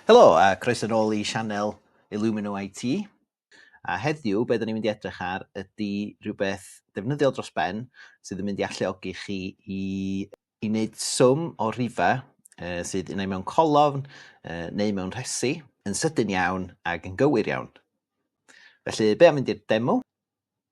Helo a croeso nôl i sianel Illumino IT. A heddiw, be da ni'n mynd i edrych ar ydy rhywbeth defnyddiol dros ben sydd yn mynd i alluogi chi i, i wneud swm o rhifau uh, sydd unai mewn colofn uh, neu mewn rhesi yn sydyn iawn ac yn gywir iawn. Felly, be am mynd i'r demo?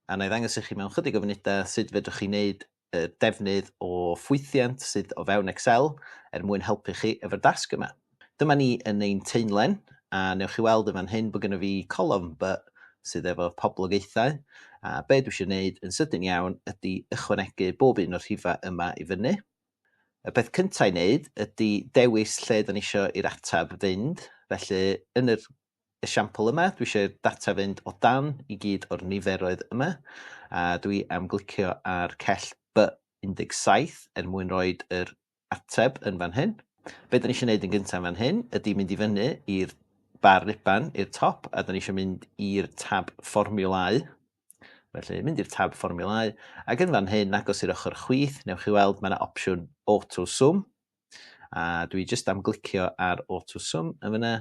a wna i ddangos i chi mewn chydig o funudau sut fedrwch chi wneud uh, defnydd o ffwythiant sydd o fewn Excel er mwyn helpu chi efo'r dasg yma. Dyma ni yn ein teimlen, a newch chi weld yn fan hyn bod gyda fi colofn by sydd efo poblogaethau, a be dwi eisiau gwneud yn sydyn iawn ydy ychwanegu bob un o'r rhifau yma i fyny. Y peth cyntaf i wneud ydy dewis lle da ni eisiau i'r atab fynd, felly yn yr esiampl yma, dwi eisiau'r data fynd o dan i gyd o'r niferoedd yma, a dwi am glicio ar cell B17 er mwyn rhoi yr ateb yn fan hyn. Be da ni eisiau gwneud yn gyntaf yn fan hyn ydy mynd i fyny i'r bar ruban i'r top a da ni eisiau mynd i'r tab fformiwlau. Felly mynd i'r tab fformiwlau ac yn fan hyn agos i'r ochr chwith newch chi weld mae yna opsiwn auto sum A dwi jyst am glicio ar auto sum yn fyna.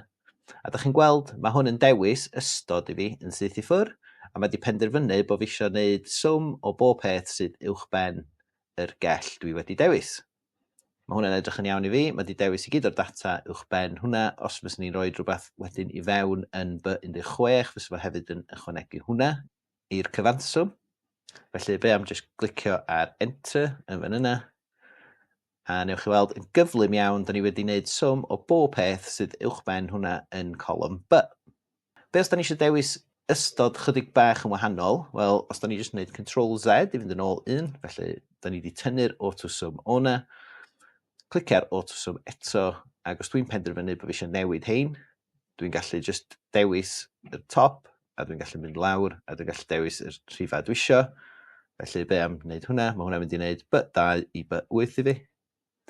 A da chi'n gweld, mae hwn yn dewis ystod i fi yn syth i ffwr, a mae di penderfynu bod fi eisiau gwneud sum o bob peth sydd uwch ben yr gell dwi wedi dewis. Mae hwnna'n edrych yn iawn i fi, mae di dewis i gyd o'r data uwch ben hwnna, os fes ni'n rhoi rhywbeth wedyn i fewn yn B16, fes fo hefyd yn ychwanegu hwnna i'r cyfanswm. Felly fe am jyst glicio ar enter yn fan yna, A newch chi weld yn gyflym iawn, da ni wedi wneud swm o bob peth sydd uwchben hwnna yn colwm B. Be os da ni eisiau dewis ystod chydig bach yn wahanol? Wel, os da ni jyst yn gwneud Control Z i fynd yn ôl un, felly da ni wedi tynnu'r autoswm o na, clicio'r autoswm eto, ac os dwi'n penderfynu bod fi eisiau newid hein, dwi'n gallu just dewis y top, a dwi'n gallu mynd lawr, a dwi'n gallu dewis y rhifau dwi isio. Felly, be am wneud hwnna? Mae hwnna'n mynd i wneud by 2 i by 8 i fi.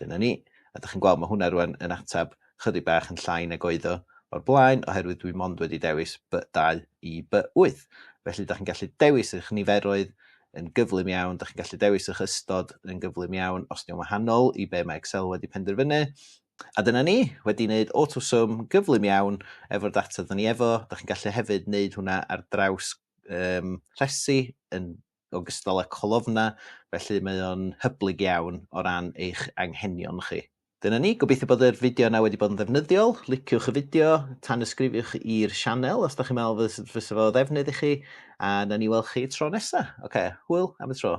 Dyna ni. A ydych chi'n gweld, mae hwnna rwan yn atab chydig bach yn llai nag oedd o o'r blaen, oherwydd dwi mond wedi dewis by 2 i by 8. Felly, ydych chi'n gallu dewis eich niferoedd yn gyflym iawn, ydych chi'n gallu dewis eich ystod yn gyflym iawn os di'n wahanol i be mae Excel wedi penderfynu, A dyna ni, wedi wneud AutoSum gyflym iawn efo'r data dyn ni efo. Dach chi'n gallu hefyd wneud hwnna ar draws um, rhesi yn ogystal â colofna, felly mae o'n hyblyg iawn o ran eich anghenion chi. Dyna ni, gobeithio bod yr fideo yna wedi bod yn ddefnyddiol. Liciwch y fideo, tan ysgrifiwch i'r sianel os da chi'n meddwl fys, fys fo ddefnydd i chi, a na ni weld chi tro nesa. Oce, okay, hwyl am y tro.